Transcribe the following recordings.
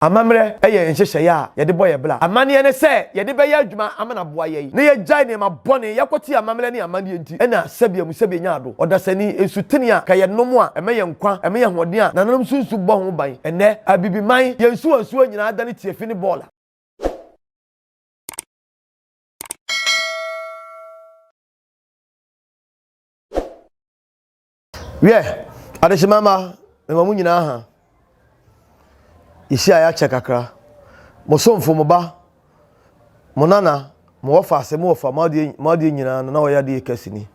Amammerɛ yɛ nhyehyɛeɛ a yɛde bɔ yɛn bra. Amanneɛ ne sɛ yɛde bɛyɛ adwuma ama no aboa yɛn na yɛagyae nneɛma bɔne, yɛakɔte amammerɛ ne amanneɛ nti na sɛbea mu sɛbea nya ado. Ɔdasani, nsutene a ka yɛnom a ɛma yɛn nkwa, ɛma yɛn ahoɔden a nananom nso nsu bɔ ho ban. Ɛnnɛ, Abibiman, yɛn nsuwansuwa nyinaa adane tiafi ne bɔɔla. Wiɛ, adehyema mma, mema mo nyinaa ha. Yɛhyiaeɛ akyɛ kakra. Mo somfo, mo ba, mo nana, mo wɔfa ase, mo wɔfa, mo adeɛ, mo adeɛ nyinaa no, na ɔyɛ adeɛ kɛse ni.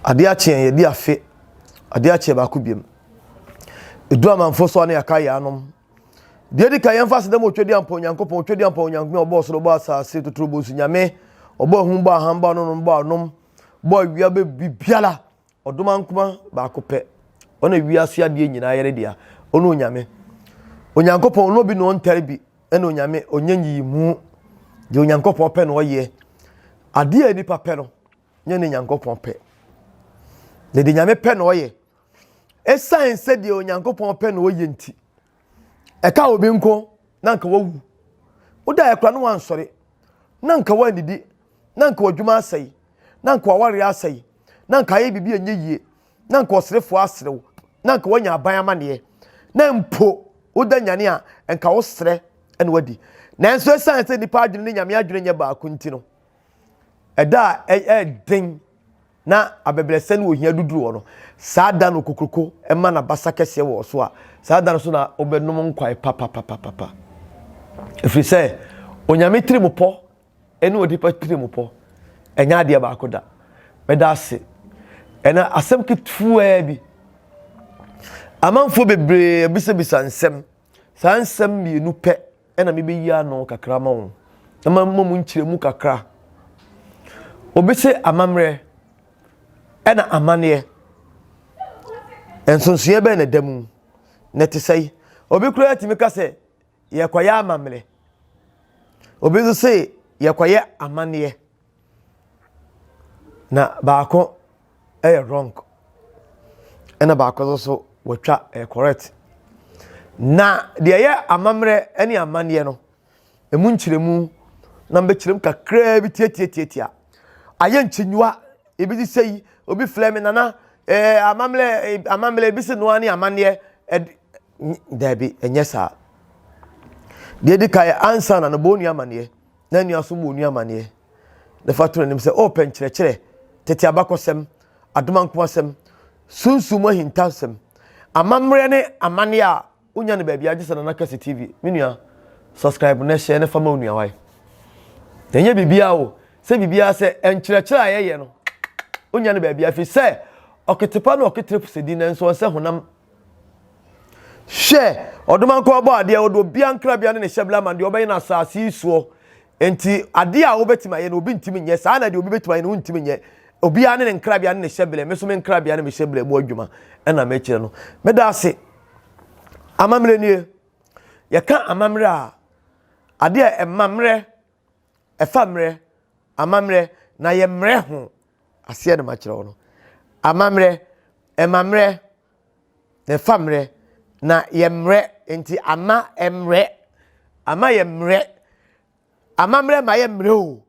Adeɛ akyeɛ, yɛdi afe. Adeɛ akyeɛ baako biam. Edu amanfo so a ne yɛaka yɛanom. Deɛ di ka yɛmfa aseda mu otwa di ampa Onyankopɔn, otwa di ampa Onyankopɔn, ɔbɔ ɔsoro, ɔbɔ asase, totoro bɔ nsu, Nyame, ɔbɔ ahum, bɔ aham, bɔ anonom, bɔ anom, bɔ awia bɛ biribiara ɔdom ankoma baako pɛ ɔna awia ase adeɛ nyinaa yɛre dea ɔne onyame onyankopɔn ɔne obi na ɔntare bi ɛna onyame ɔnyɛ nyiyi mu deɛ onyankopɔn pɛ na ɔyɛ adeɛ a nipa pɛ no nyɛ ne nyankopɔn pɛ na deɛ nyame pɛ na ɔyɛ ɛsan sɛ deɛ onyankopɔn pɛ na ɔyɛ nti ɛka obi nko na nka wawu wodaeɛ kora no wansɔre na nka wannidi na nka wadwuma asɛe na nka wawareɛ asɛe na nka ayɛ biribi ɛnyɛ yie na nka ɔserefoɔ aserew na nka wanya aban amaneɛ na mpo woda nyane a nka woserɛ ɛna wadi nanso ɛsiane sɛ nnipa adwene ne nyame adwene nyɛ baako nti no ɛda a ɛyɛ den na abɛbrɛsɛ ne ohia duduru hɔ no, saa da no okokuroko ma n'abasa kɛseɛ wɔ so a, saa da no so na wobɛnom nkwae papapapapa. Ɛfiri sɛ Onyame tirimupɔ ne onipa tirimupɔ ɛnyɛ adeɛ baako da. Meda ase. Ɛna asɛm ketewa bi. Amanfoɔ bebree abisabisa nsɛm. Saa nsɛm mmienu pɛ na mebɛyi ano kakra ma wo. Ɛma mma mu nkyerɛmu kakra. Obi se amammerɛ ɛna amaneɛ. Nsonsoeɛ bɛn na ɛda mu? Na ɛte sɛ obi koraa atumi ka sɛ yɛkɔyɛ amammerɛ. Obi nso se yɛkɔyɛ amaneɛ. Na baako yɛ wrong ɛna baako nso so wɔatwa ɛyɛ correct na deɛ ɛyɛ amammerɛ ɛne amanneɛ no ɛmu nkyerɛmu na mbɛkyerɛm kakraa bi tiatiatiatia ayɛ nkyinyiwa ebi de sɛ yi obi filɛ me nana ɛɛ amammerɛ amammerɛ ebi sɛ noa ne amanneɛ ɛde daabi ɛnyɛ saa deɛ di ka yɛ ansa na no bɔ onua amanneɛ na nua so mu onua amaneɛ, na fa to n'anim sɛ, O pɛ nkyerɛkyerɛ, tete abakɔsɛm, adom ankomasɛm, sunsum mu ahintasɛm, amammerɛ ne amaneɛ a wonya no baabiara gye sɛ Nana Kɛse TV. Me nua, subscribe na hyɛ na fa ma onua wae. Na ɛnyɛ biribiara o, sɛ biribiara sɛ nkyerɛkyerɛ a yɛyɛ no, wonya no baabiara, ɛfiri sɛ ɔketepa na ɔketere posɛdi nanso ɔnsɛ honam Hwɛ, ɔdomankɔ ɔbɔ adeɛ, ɔde obia nkrabea ne ne hyɛbla ma deɛ ɔbɛyɛ no asase yi soɔ. Enti adeɛ a wobɛtumi ayɛ no obi ntumi nyɛ, saa na deɛ obi bɛtumi ayɛ no wontumi nyɛ. Obia ne ne nkrabea ne ne hyɛbla, me so me nkrabea ne me hyɛbla mu adwuma ɛna mekyerɛ no. Meda ase. Amammerɛ nie. Yɛka amammerɛ a, adeɛ a ɛma mmerɛ, ɛfa mmerɛ, amammerɛ, na yɛ mmerɛ ho aseɛ na makyerɛ wo no amammerɛ ɛma mmerɛ na ɛfa mmerɛ na yɛ mmerɛ nti ama mmerɛ ama yɛ mmerɛ amammerɛ ma yɛ mmerɛ o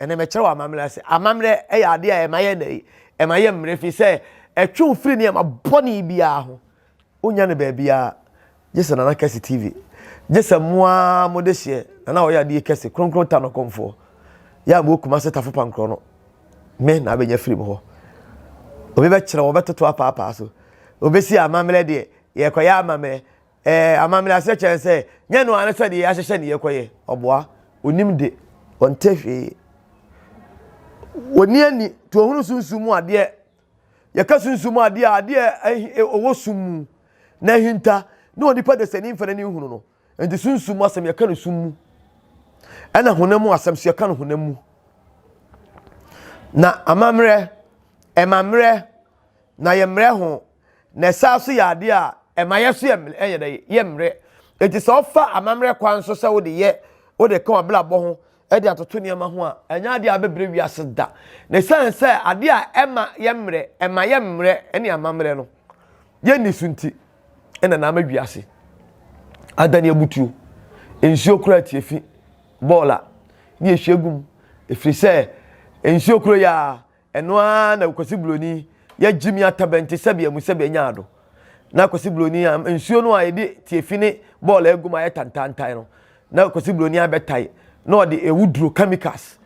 ɛna mɛkyerɛ wɔ amammerɛ ase amammerɛ ɛyɛ adeɛ a ɛma yɛ nɛyi ɛma yɛ mmerɛ fi sɛ ɛtwe wo firi nneɛma bɔne biara ho Wonnya no baabiara, gye sɛ Nana Kɛse TV. Gye sɛ mo ara mode hyeɛ Nana Ɔyɛadeɛ Kɛse, Kronkron Ta no kɔmfoɔ. Yɛ a mowɔ Kumase Tafo Pankorɔ no, me na abɛnya afiri mo hɔ. Obi bɛkyerɛ wo, ɔbɛtoto apaapaa so. Obɛsi amammerɛ deɛ, yɛrekɔyɛ amammerɛ. Ɛɛ, amammerɛ aseɛ kyerɛ ne sɛ, nyɛ no ara ne sɛdeɛ yɛahyehyɛ ne yɛrekɔyɛ. Ɔboa, ɔnim de, ɔnte hwee. Ɔnni ani, tuahunu sunsum mu adeɛ. Yɛka sunsum a, ade a ade a ɛwɔ sum mu na ahinta ne onipa dasani mfa n'ani nhunu no. Enti sunsum mu asɛm yɛka no sum mu, ɛna honam mu asɛm so yɛka no honam mu. Na amammerɛ, ɛma mmerɛ, na yɛ mmerɛ ho, na ɛsaa so yɛ ade a ɛma yɛ so yɛ dɛ yɛ mmerɛ. Enti sɛ ɔfa amammerɛ kwan so sɛ wode yɛ wode ka w'abrabɔ ho de atoto nneɛma ho a, ɛnyɛ ade a ɛbɛbrɛ wiase da. Na esiane sɛ ade a ɛma yɛmmrɛ, ɛma yɛn mmerɛ ne amammerɛ no, yɛnni so nti, ɛna na ama wiase adane abutuo. Nsuo kora atie fi bɔɔla ne ɛhwie gu mu, ɛfiri sɛ nsuo koro yɛ a Ɛno ara na Kwasi Buroni yɛ Jimmy Atabɛnti sɛbea mu sɛbea nyaa do. Na Kwasi Buroni a nsuo no a yɛde tiafi ne bɔɔl agu mu ayɛ tantaantan no, na Kwasi Buroni abɛtae na ɔde awuduro, chemicals,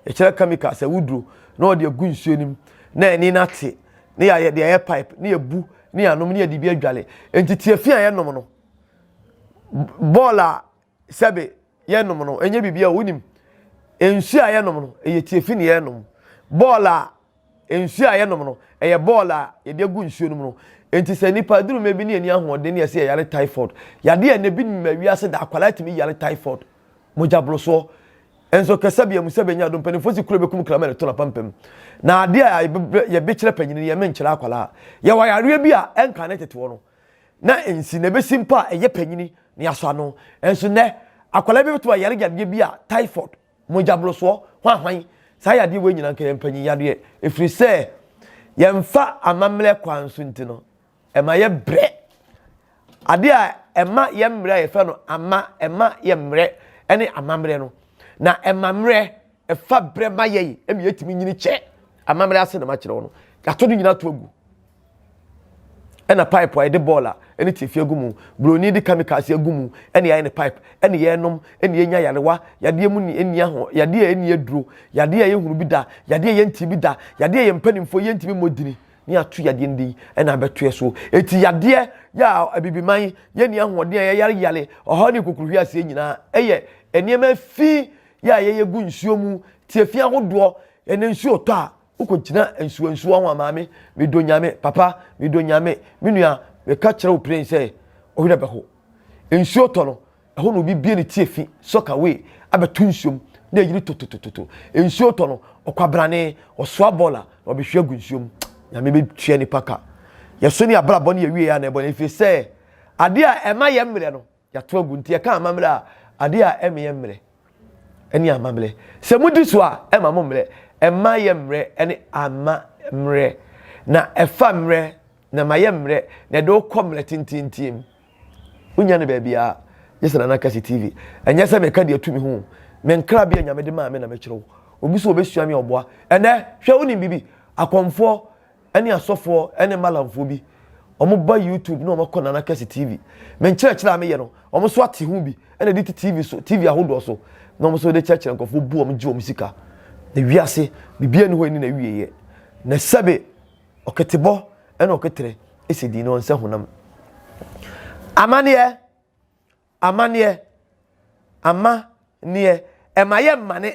yɛkyerɛ chemicals, awuduro, na ɔde agu nsuo no mu, na ani no ate, na yɛayɛ deɛ ɛyɛ pipe, na yɛbu, na yɛanom, na yɛde bi adwale. Enti tiafi a yɛnom no, bɔɔl a sɛbe yɛnom no, ɛnyɛ biribi a wonim. Nsuo a yɛnom no, ɛyɛ tiafi na yɛnom. Bɔɔl a nsuo a yɛnom no, ɛyɛ bɔɔl a yɛde agu nsuo no mu no. Enti sɛ nipa aduru mɛ bi ne ani ahoɔden ne ɛsɛ yɛyare typhoid. Yadeɛ a ɛnɛ bi nim wiase da akwadaa tumi yare typhoid, mogyaborosoɔ. Nso kɛsɛ bia mu sɛ bɛnya ado mpanimfoɔ si kuro bɛkum krama ne to na pampam. Na adeɛ a yɛbɛkyerɛ panyini yɛ menkyerɛ akwadaa. Yɛwɔ yareɛ bi a ɛnka ne teteɔ no. na nsi na ebesi mpo a ɛyɛ panyin na yɛasɔ ano. Nanso nnɛ, akwadaa bi betumi ayare yadeɛ bi a typhoid, mogyaborosoɔ, hwanhwan, saa yadeɛ wei nyinaa nka yɛ mpanyin yadeɛ. Ɛfiri sɛ yɛmfa amammerɛ kwan so nti no, ɛma yɛ brɛ. Adeɛ a ɛma yɛ mmerɛ a yɛfrɛ no ama, ɛma yɛ mmerɛ ne amammerɛ no. Na ɛma mmerɛ Ɛfa berɛ ma yɛn ɛmi yɛtumi nyini kyɛ amammerɛ ase na makyerɛ wo no yɛato no nyina to agu ɛna pipe a yɛde bɔɔl a ɛne tiafi agu mu buroni de kamikaase agu mu ɛne yɛayɛ ne pipe ɛne yɛnom ɛne yɛnya yarewa yadeɛ mu ne ɛni aho yadeɛ a ɛni aduro yadeɛ a yɛhunu bi da yadeɛ a yɛnti bi da yadeɛ a yɛn mpanimfoɔ yɛntumi mmɔ dini ne ato yadeɛ no din ɛna abɛtoɛ so ɛti yadeɛ yɛ a abibiman yɛni ahoɔden a yɛyareyare ɔhaw ne kokuruhwi aseɛ nyinaa ɛyɛ nneɛma fi yɛ a yɛyɛ gu nsuo mu, tiafi ahodoɔ, ɛnɛ nsuo retɔ a wokɔgyina nsuo nsuo ho a maame medɔ nyame papa medɔ nyame me nua meka kyerɛ wo plen sɛ ɔwerɛ bɛho nsuo tɔ no ɛhɔ na obi bie ne tiafi sɔka wei abɛto nsuom na ɛyiri tototototo nsuo tɔ no ɔkwabrane ɔsoa bɔɔl a na ɔbɛhwe agu nsuom nyame bɛtua nipa ka yɛso ne abrabɔ ne yɛwie yɛ a na ɛbɔ no ɛfiri sɛ adeɛ a ɛma yɛ mmerɛ no Yɛato agu, nti yɛka amammerɛ a, adeɛ a ɛmeyɛ mmerɛ ne amammerɛ. Sɛ modi so a, ɛma mo mmerɛ. Ɛmma yɛ mmerɛ ne amma mmerɛ. Na ɛfa mmerɛ, na ɛma yɛ mmerɛ, na ɛde wo kɔ mmerɛ tenteenten mu. Wonnya no baabiara, gye sɛ Nana Kasi TV. Ɛnyɛ sɛ meka deɛ ɛtu me ho o. Me nkrabea Nyame de maa me na mekyerɛw. Obi so ɔbɛsua me a, ɔboa. Ɛnnɛ, hwɛ wonim biribi? Akɔmfoɔ. ɛne asɔfoɔ ɛne malamfoɔ bi wɔn ba youtube na wɔn kɔ nana kɛse tv me nkyerɛkyerɛ a meyɛ no wɔn nso ate ho bi ɛna de ti tv so tv ahodoɔ so na wɔn nso de kyerɛkyerɛ nkurɔfoɔ bu wɔn gye wɔn sika na wiase biribi ani hɔ ani na wie yɛ na sɛbe ɔketebɔ ɛna ɔketere ɛsɛ di na wɔn nsa honam amaneɛ Amanneɛ, ama, neɛ, ɛma yɛ mmane,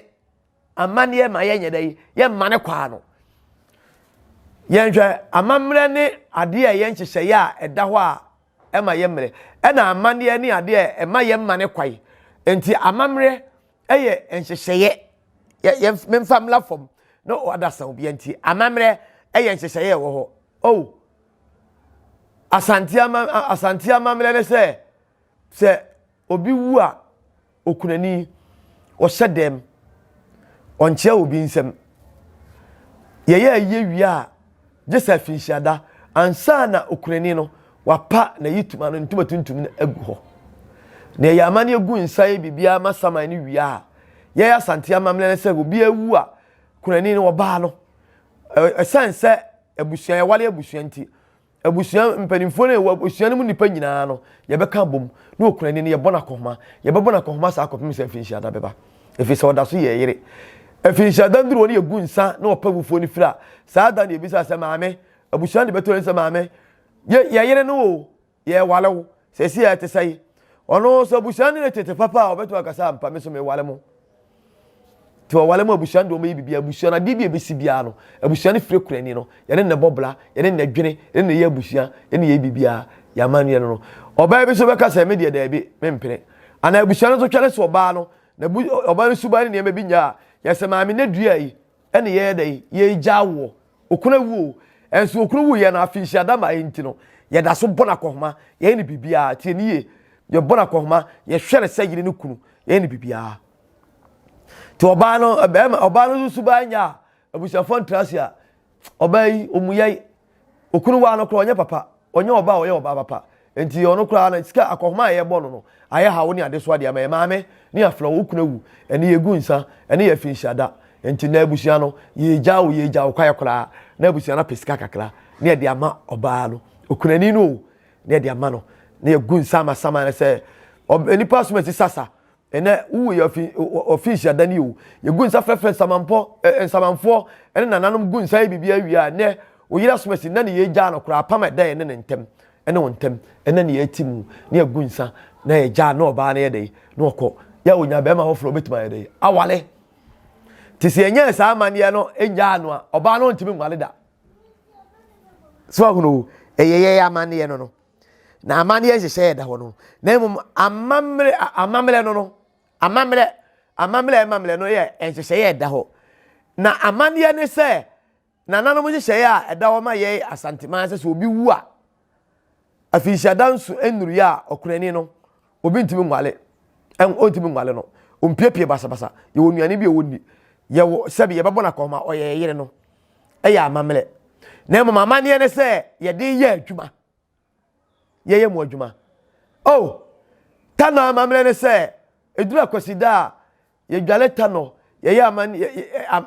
amanneɛ ma yɛ nyɛ dɛ, yɛ mmane kwaa no. Yɛnhwɛ amammerɛ ne adeɛ a ɛyɛ nhyehyɛeɛ a ɛda hɔ a ɛma yɛ mmerɛ, ɛna amanneɛ ne adeɛ a ɛma yɛ mmane kwae. Nti amammerɛ ɛyɛ nhyehyɛeɛ, yɛ, yɛ, memfa mmla fam, na ɔda sa obiara nti, amammerɛ ɛyɛ nhyehyɛeɛ ɛwɔ hɔ. Oh! Asante ama Asante amammerɛ ne sɛ sɛ obi wu a okunani ɔhyɛ dɛm ɔnkyea obi nsɛm yɛyɛ ayie wie a gye sɛ afinhyiada ansa na okunani no wapa n'ayi tuma no ntoma tuntum no agu hɔ na yɛyɛ amanneɛ gu nsa yɛ biribiara ma saman no wie a yɛyɛ Asante amammerɛ ne sɛ obi awu a kunani no ɔbaa no ɛsan sɛ abusua, yɛware abusua nti, abusua mpanimfoɔ no yɛwɔ abusua no mu nnipa nyinaa no yɛbɛka abom na okura ni no yɛbɔ no akɔhoma yɛbɛbɔ no akɔhoma saa akɔpem sɛ mfirinhyia da bɛba ɛfiri sɛ ɔda so yɛ yere mfirinhyia da nduru wɔ no yɛgu nsa na ɔpɛ wufoɔ no firi a saa da no yɛbisa sɛ maame abusua no de bɛtɔ yɛn sɛ maame yɛ yɛyere no o yɛreware wo sɛsi a ɛte sɛn ɔno nso abusua no ne tete papa a ɔbɛtumi akasa ampa me so meware mo nti ɔware mu abusua no deɛ ɔmɛyɛ biribi abusua no adeɛ bi a ɛbɛsi biara no abusua no fire kurani no yɛne ne bɔ bla yɛne ne dwene yɛne ne yɛ abusua yɛne yɛ biribiara yɛ amanneɛ no no ɔbaa bi nso bɛka sɛ me deɛ daabi mempene anaa abusua no nso twɛne so ɔbaa no na ɔbaa no suban ne nneɛma bi nyaa yɛsɛ maame no dua yi ɛne yɛyɛ dɛ yɛgya woɔ okunu awu o ɛnso okunu wu yɛ no afi nhyia da ma ɛnti no yɛda so bɔ no akɔhoma yɛyɛ no biribiara tie ne yie yɛbɔ no akɔhoma yɛhwɛ no sɛ yere ne kunu yɛyɛ no biribiara nti ɔbaa no bɛrima ɔbaa no nso baa nya a abusuafoɔ ntra ase a ɔbaa yi ɔmu yɛe okunu waa no korɔ ɔnyɛ papa ɔnyɛ ɔbaa ɔyɛ ɔbaa papa Enti ɔno koraa no, sika akɔhoma a yɛbɔ no no ayɛ haw ne adesoa de ama yɛn. Maame ne afena, wo kunu awu, ɛnne yegu nsa, ɛnne yɛ afinhyiada. Enti nnɛ abusua no, yegya wo, yegya wo kwae koraa, na abusua no apɛ sika kakra na yɛde ama ɔbaa no, okunani no o, na yɛde ama no, na yegu nsa ama saman no sɛ, Ɔb, nnipa som asi sasa, Ɛnnɛ, wowu yɛ ɔfi, ɔfiisi adani o, yegu nsa frɛfrɛ nsamanpɔ, eh, nsamanfoɔ, ɛne nananom gu nsa yɛ biribi awie a, ɛnnɛ, wo yere asom asi, na ne yɛ gyaa no koraa, apam a ɛda yɛ ne ne ntɛm, ɛne wo ntɛm, ɛnnɛ ne yɛ ati mu, ne yɛ gu nsa, na yɛ gyaa ne ɔbaa no yɛ dɛn, na ɔkɔ, yɛ a onya bɛrima foforɔ obetumi ayɛ dɛn, awale. Te sɛ ɛnyɛ saa amaneɛ no ɛnyaa no a, ɔbaa no ntumi nwale da. So ahunu o, ɛyɛ yɛ amaneɛ no no. na amanneɛ nhyehyɛ yɛ da hɔ no na mmom amammerɛ amammerɛ no no amammerɛ amammerɛ amammerɛ no yɛ nhyehyɛ yɛ da hɔ na amanneɛ ne sɛ nananom nhyehyɛ a ɛda hɔ ma yɛ asanteman sɛ sɛ obi wu a afinhyia danso nnuru yɛ a ɔkunani no obi ntumi nwale ɔntumi nwale no ɔmpiepie basabasa yɛwɔ nnuane bi a ɔnni yɛwɔ sɛbi yɛbɛbɔ no akɔma ɔyɛ yɛyere no ɛyɛ amammerɛ na mmom amanneɛ ne sɛ yɛde yɛ adwuma yɛyɛ mu adwuma oh tano amammerɛ ne sɛ ɛduru akwasida a yɛdwale tanɔ, yɛyɛ aman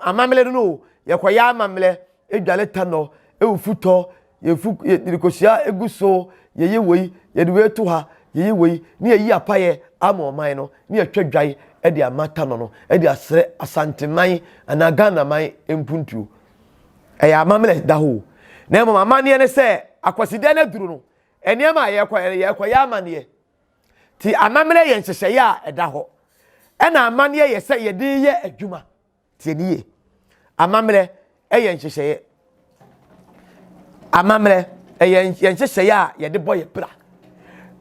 amammerɛ no no o, yɛkɔyɛ amammerɛ, yɛdwale tanɔ, ɛwɔ futɔ, yɛfu yɛde kosua egu so, yɛyɛ wei, yɛde wei to ha, yɛyɛ wei, ne yɛyi apayɛ ama ɔman no, ne yɛtwa dwae ɛde ama tanɔ no, ɛde asrɛ Asanteman anaa Ghanaman mpuntuo. Ɛyɛ amammerɛ da hɔ o. Na mmom amanneɛ ne sɛ, Akwasidɛ no aduru no, nneɛma a yɛkɔyɛ no, yɛkɔyɛ amanneɛ. Nti amammerɛ yɛ nhyehyɛeɛ a ɛda hɔ. Ɛna amanneɛ yɛ sɛ yɛde yɛ adwuma. Tie ne yie. Amammerɛ yɛ nhyehyɛeɛ. Amammerɛ yɛ nhyehyɛeɛ a yɛde bɔ yɛ bra.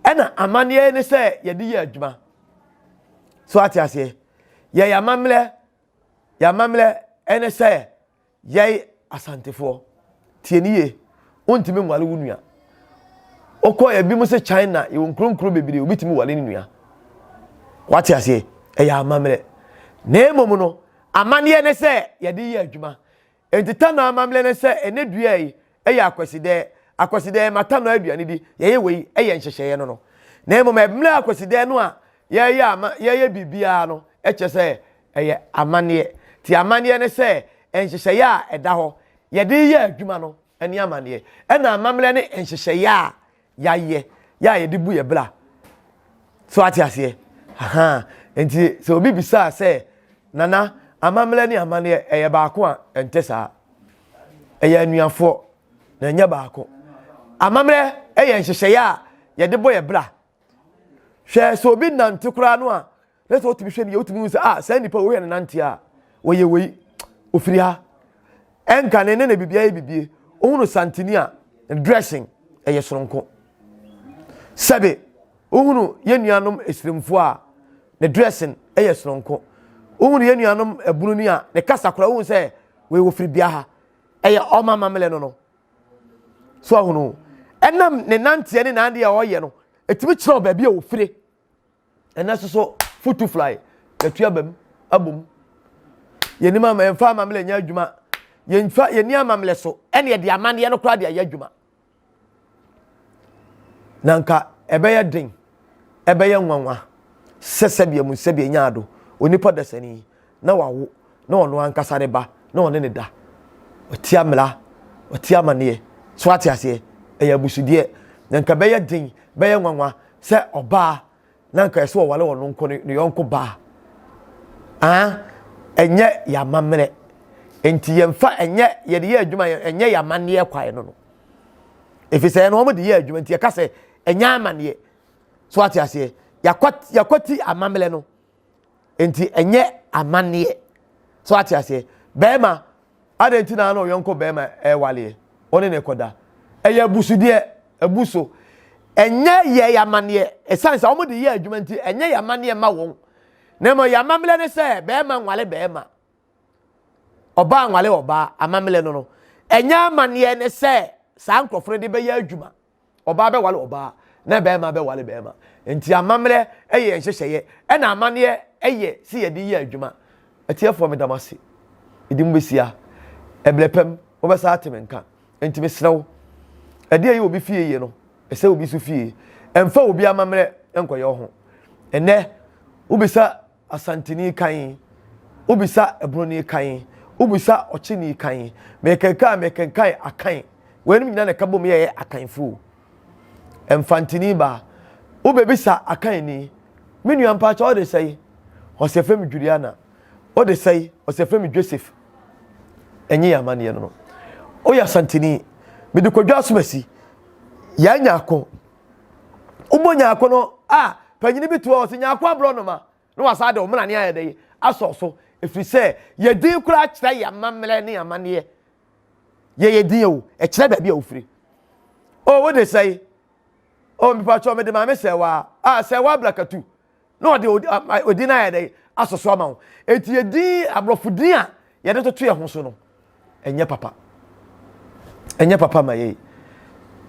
Ɛna amanneɛ ne sɛ yɛde yɛ adwuma. So ate aseɛ? Yɛyɛ amammerɛ, yɛ amammerɛ ne sɛ Yɛn Asantefoɔ, tie ne yie, wontumi nware wo nua. Wokɔ ebi mu sɛ China, yɛwɔ nkuronkuro bebree, obi tumi ware ne nua. Wate aseɛ, ɛyɛ amammerɛ. Na mmom no, amanneɛ ne sɛ yɛde yɛ adwuma. Enti Tano amammerɛ ne sɛ ɛnɛ dua yi, ɛyɛ akwasidɛɛ, akwasidɛɛ mata no aduane di, yɛyɛ wei ɛyɛ nhyehyɛeɛ no no. Na mmom ɛmmerɛ akwasidɛɛ no a yɛyɛ ama yɛyɛ biribiara no kyerɛ sɛ ɛyɛ amanneɛ. Ti amanneɛ ne sɛ nhyehyɛeɛ a ɛda hɔ yɛde yɛ adwuma no ɛne amanneɛ ɛna amammerɛ ne nhyehyɛeɛ a yɛayɛ yɛ a yɛde bu yɛ bra so ate aseɛ ahaa nti sɛ obi bisaa sɛ nana amammerɛ ne amanneɛ ɛyɛ baako a ɛntɛ saa ɛyɛ anuafoɔ na ɛnyɛ baako amammerɛ ɛyɛ nhyehyɛeɛ a yɛde bɔ yɛ bra hwɛ sɛ obi nante koraa no a na sɛ wotumi hwɛ no yɛ wotumi hu sɛ ah saa nipa wei yɛ ne nante a wɔyɛ wei ofiri ha ɛnka ne ne na biribi ayɛ bibie ohun no santini a dressing ɛyɛ soronko sɛbe ohun yɛn nuanom esirimfoɔ a ne dressing ɛyɛ soronko ohun yɛn nuanom ebunu ni a ne kasa koraa ohun sɛ wei ofiri bia ha ɛyɛ ɔma amammerɛ no no so ahunu ɛnam ne nanteɛ ne n'adeɛ a ɔyɛ no etumi kyerɛw baabi a ofiri. ɛnɛ soso futu fly yɛtu aba mu abɔ mu yɛnim ama yɛmfa amammerɛ nyɛ adwuma yɛmfa yɛni amammerɛ so ɛne yɛde amanneɛ no koraa de ayɛ adwuma na nka ɛbɛyɛ den ɛbɛyɛ nwanwa sɛ sɛdeɛ mu sɛdeɛ nyaa do onipa dasani na wawo na ɔno ankasa ne ba na ɔne ne da ɔte amena ɔte amaneɛ so ate aseɛ ɛyɛ abusudeɛ na nka bɛyɛ den bɛyɛ nwanwa sɛ ɔbaa na nka ɛsɛ ɔwale ɔno nko ne ne yɔnko baa aa ɛnyɛ yɛ amammerɛ nti yɛmfa ɛnyɛ yɛde yɛ adwuma ɛnyɛ yɛ amaneɛ kwae no no ɛfiri sɛ ɛno wɔn de yɛ adwuma nti yɛka sɛ ɛnyɛ amaneɛ so ate aseɛ yɛakwati amammerɛ no nti ɛnyɛ amanneɛ so ate aseɛ bɛrima adɛn nti na na ɔyɔnko bɛrima ɛwaleɛ ɔne ne kɔda ɛyɛ abusudeɛ abu so ɛnyɛ yɛ yɛ amanneɛ ɛsiane sɛ wɔn de yɛ adwuma nti ɛnyɛ yɛ amanneɛ ma wɔn na mmɔ yɛ amammerɛ ne sɛ bɛrima nwale bɛrima ɔbaa nwale ɔbaa amammerɛ no no ɛnyɛ amanneɛ ne sɛ saa nkurɔfoɔ no de bɛyɛ adwuma Ɔbaa bɛware ɔbaa, na barima bɛware barima. Enti amammerɛ yɛ yɛn nhyehyɛeɛ, ɛna amanneɛ yɛ sɛ yɛde yɛ adwuma. Atiefoɔ, meda mo ase. Mede mo bɛsi ha. Ɛberɛ pa mu, mobɛsan ate me nka. Enti mesrɛ wo, ɛdeɛ a ɛyɛ obi fie yie no, ɛsɛ obi nso fie. Mfa obi amammerɛ nkɔyɛ wo ho. Ɛnnɛ, wobisa Asanteni kan, wobisa Broni kan, wobisa Ɔkyeni kan. Mekenkan a mekenkan Akan. Weinom nyinaa na ɛka bom yɛɛ Akanfo o. Mfantini ba, wobebisa Akanni, me nua mpakyɛ wo de sɛe? Ɔse ɛfrɛ me Juliana. Wo de sɛe? Ɔse ɛfrɛ me Joseph. Ɛnye yɛn amanneɛ no no. Woyɛ Asanteni, mede Kwadwo Asomasi. Yɛanya ako. Wobɔ Nyarko no a, panyin bi to hɔ a ɔse, Nyarko aborɔnoma, na wasan de ɔmenane ayɛ dɛn? asɔ so, ɛfiri sɛ yɛn din koraa kyerɛ yɛn amammerɛ ne yɛn amanneɛ. Yɛyɛ din o, ɛkyerɛ baabi a wofiri. O, wode sɛe? O, mepakyɛw mede maame Sɛɛwaa, ah, Sɛɛwaa Blakatu, na ɔde odin no ayɛ dɛ asɔ so ama wo eti yɛ din aborɔfo din a yɛde toto yɛn ho so no ɛnyɛ papa ɛnyɛ papa ma yɛ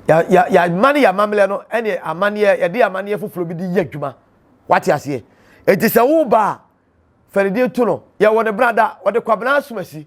ya ya ya mane yɛ amammerɛ no ɛne amaneɛ yɛde amaneɛ foforɔ bi de yɛ adwuma wate aseɛ eti sɛ wo ba a fɛrɛdeɛ to no yɛwɔ ne brada ɔde kwabena asomasi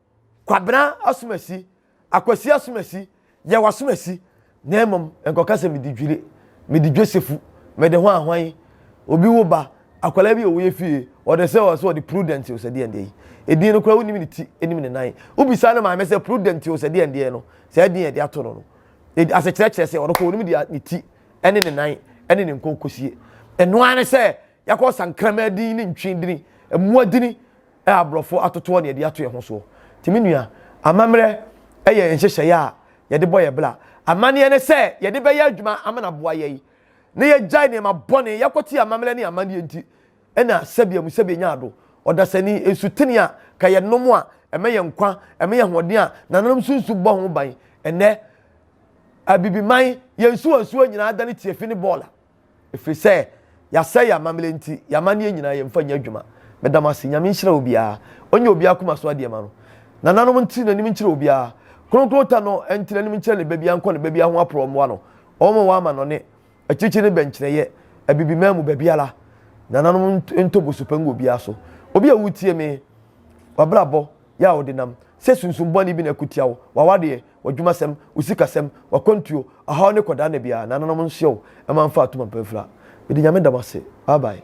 Kwabena Asumasi, Akwasi Asumasi, Yaw Asumasi, na mmom nkɔka sɛ mede dwire, mede dwosefu, mede hwan hwan yi. Obi wo ba, akwadaa bi a ɔwɔ yɛ fie, ɔde sɛ ɔsɛ ɔde Prudent Osadeɛndeɛ yi. Edin no koraa wonim ne ti, nim ne nan. Wobisa ne maame sɛ Prudent Osadeɛndeɛ no, saa edin a yɛde ato no no, asekyerɛ kyerɛ sɛ ɔno koraa onim deɛ ne ti ne ne nan ne ne nkonkosie. Ɛno ara ne sɛ Yɛakɔ sa nkraman din ne ntwi din, mmoa din a aborɔfo atotoɔ na yɛde ato yɛn ho soɔ. Nti me nua, amammerɛ yɛ nhyehyɛeɛ a yɛde bɔ yɛn bra. Amanneɛ ne sɛ yɛde bɛyɛ adwuma amana aboa yɛn na yɛagyae nneɛma bɔne. Yɛakɔte amammerɛ ne amanneɛ nti na sɛbea mu sɛbea nyaa ado. Ɔdasani, nsutene a ka yɛnom a ɛma yɛn nkwa, ɛma yɛn ahoɔden a nananom so nsu bɔ ho ban. Ɛnnɛ, Abibiman, yɛn nsuwansuwa nyinaa adane tiafi ne bɔɔla. Ɛfiri sɛ yasɛe yɛn amammerɛ nti yɛn amanneɛ nyinaa yɛmfa nyɛ adwuma. Meda mo ase. Nyame nhyira obiara. Ɔnyɛ obiara akoma so adeɛ ma no. Nananom ntene anim nkyerɛ obiara. Kronkron ta no ntene anim nkyerɛ ne babia nkɔ ne babia ho aporɔ mmoa no. Wɔn wɔn amanɔne. Akyirikyiri ne bɛnkyerɛyɛ. Abibiman mu baabiara. Nananom ntɔ bosupa ngu obiara so. Obi a woretie me, w'abrabɔ yɛ a wode nam. Sɛ sunsum bɔne bi na ɛko tia wo, w'awadeɛ, w'adwumasɛm, wo sikasɛm, w'akwantuo, ɔhaw ne kɔdaa nna biara, nananom nsoɛ wo, mma mfa atom mpa mfira. Mede Nyame da mo ase. Bye bye.